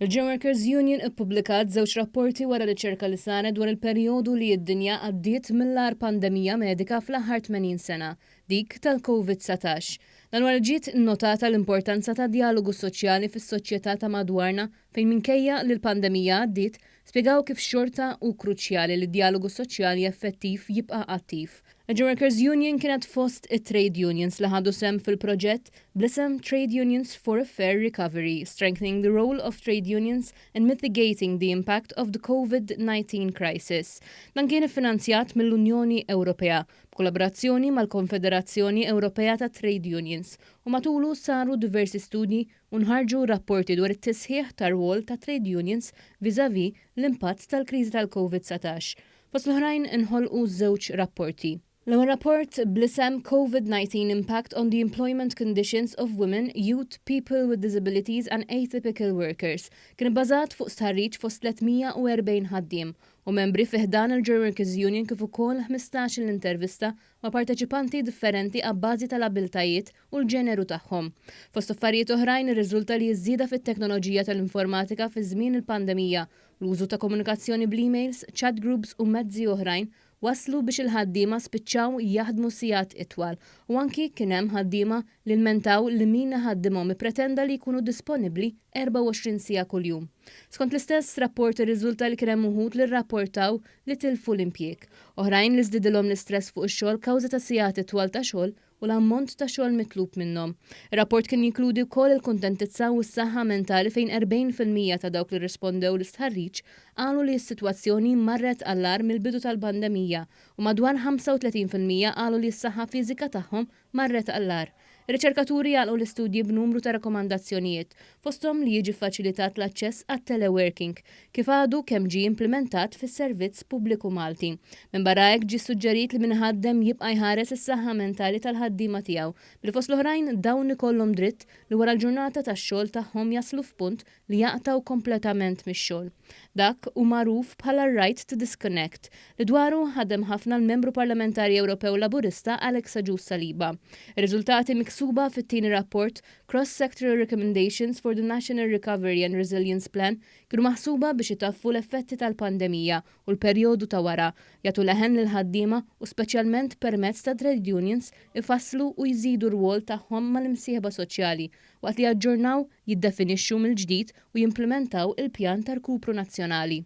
Il-Gym Workers Union ippubblikat żewġ rapporti wara riċerka li saret dwar il-perjodu li d-dinja għaddiet mill-agħar pandemija medika fl-aħħar 80 sena, dik tal-COVID-19. Dan wara li ġiet innotata l-importanza ta' djalogu soċjali fis-soċjetà ta' madwarna fejn minkejja li l-pandemija għaddiet, spjegaw kif xorta hu kruċjali li d-djalogu soċjali effettiv jibqa' attiv. Il-Gymworkers Union kienet fost it-trade unions li ħadu sehem fil-proġett bl-isem Trade Unions for a Fair Recovery, Strengthening the Role of Trade Unions in Mitigating the Impact of the Covid-19 Crisis. Dan kien iffinanzjat mill-Unjoni Ewropea, b'kollaborazzjoni mal-Konfederazzjoni Ewropea tat-Trade Unions, u matulu saru diversi studji, u nħarġu rapporti dwar it-tisħiħ tar-rwol tat-trade unions vis-à-vis l-impatt tal-kriżi tal-Covid 19. Fost l-oħrajn inħolqu żewġ rapporti. L-ewwel rapport, bl-isem Covid 19 Impact on the Employment Conditions of Women, Youth, People with Disabilities and Atypical Workers, kien ibbażat fuq stħarriġ fost 340 ħaddiem u membri fi ħdan il-Gerworkers Union kif ukoll ħmistax-il intervista ma' parteċipanti differenti abbażi tal-abbiltajiet u l-ġeneru tagħhom. Fost affarijiet oħrajn irriżulta li ż-żieda fit-teknoloġija tal-informatika fi żmien il-pandemija, l-użu ta' komunikazzjoni bl-emails, chat groups u mezzi oħrajn wasslu biex il-ħaddiema spiċċaw jaħdmu sigħat itwal u anki kien hemm ħaddiema li lmentaw li min iħaddimhom ippretenda li jkunu disponibbli 24 siegħa kuljum. Skont l-istess rapport irriżulta li kien hemm uħud li rrapportaw li tilfu l-impjieg, oħrajn li żdiedilhom l-istress fuq ix-xogħol kawża ta' sigħat itwal ta' xogħol u l-ammont ta' xogħol mitlub minnhom. Ir-rapport kien jinkludi wkoll il-kuntentizza u s-saħħa mentali fejn 40 fil-mija ta' dawk li rrispondew l-istħarriġ qalu li s-sitwazzjoni marret għall-agħar mill-bidu tal-pandemija u madwar 35 fil-mija qalu li s-saħħa fiżika tagħhom marret għall-agħar. Ir-riċerkaturi għalqu l-istudji b'numru ta' rakkomandazzjonijiet fosthom li jiġi ffaċilitat l-aċċess għat-teleworking, kif għadu kemm ġie implimentat fis-servizz pubbliku Malti. Minbarra hekk ġie ssuġġerit li min iħaddem jibqa' jħares is-saħħa mentali tal-ħaddiema tiegħu, billi fost l-oħrajn dawn ikollhom dritt li wara l-ġurnata tax-xogħol tagħhom jaslu f'punt li jaqtgħu kompletament mix-xogħol. Dak hu magħruf bħala r-right to disconnect, li dwaru ħadem ħafna l-Membru Parlamentari Ewropew Laburista Alex Agius Saliba. Ir-riżultati miksuba fit-tieni rapport Cross-sectoral recommendations for the National Recovery and Resilience Plan kienu maħsuba biex itaffu l-effetti tal-pandemija u l-perjodu ta' wara, jagħtu leħen lill-ħaddiema u speċjalment permezz ta' trade unions ifasslu u jżidu r-rwol tagħhom mal-imsieħba soċjali waqt li jaġġornaw, jiddefinixxu mill-ġdid u jimplimentaw il-pjan ta' rkupru nazzjonali.